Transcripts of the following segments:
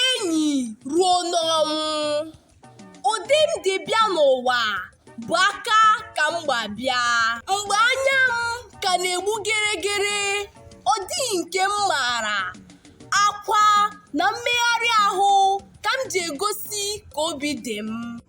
enyi ruo n'ọnwụ ụdị m dị bịa n'ụwa bụ aka ka m gba bịa mgbe anya m ka na-egbu geregere ọ dịghị nke m maara akwa na mmegharị ahụ ka m ji egosi ka obi dị m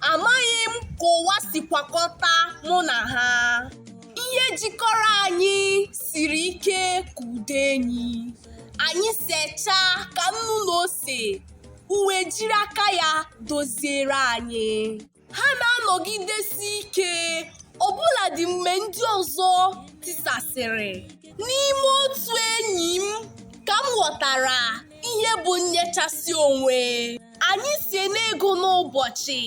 Amaghị m ka ụwa si kwakọta mụ na ha. Ihe jikọrọ anyị siri ike ka ụdọ enyi. Anyị sechaa ka nnu na ose, ụwa ejiri aka ya doziere anyị. Ha na-anọgidesi ike ọbụladị mgbe ndị ọzọ tisasịrị. N'ime otu enyi m ka m ghọtara ihe bụ nnyechasị onwe. anyị si n'ịgụ n'ụbọchị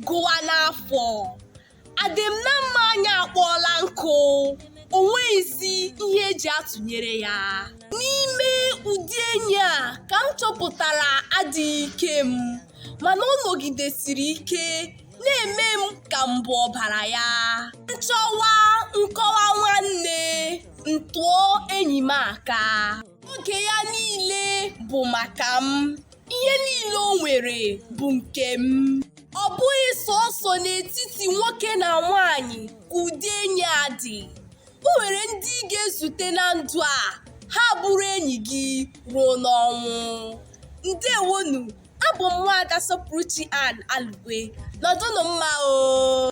gụwa n'afọ adịm na mma anyị akpọọla nkụ o nweghịzi ihe e ji atụnyere ya n'ime ụdị enyi a ka m chọpụtara adịghị ike m mana ọ nọgidesiri ike na-eme m ka m bụ ọbara ya m chọwa nkọwa nwanne m tụọ enyi m aka oge ya niile bụ maka m ihe niile o nwere bụ nke m ọ bụghị sọsọ n'etiti nwoke na nwanyị ka ụdị enyi a dị o nwere ndị ị ga-ezute na ndụ a ha bụrụ enyi gị ruo n'ọnwụ ndewonu abụ m nwaada sọpụrụchi an alugwe nọdụnụ mma o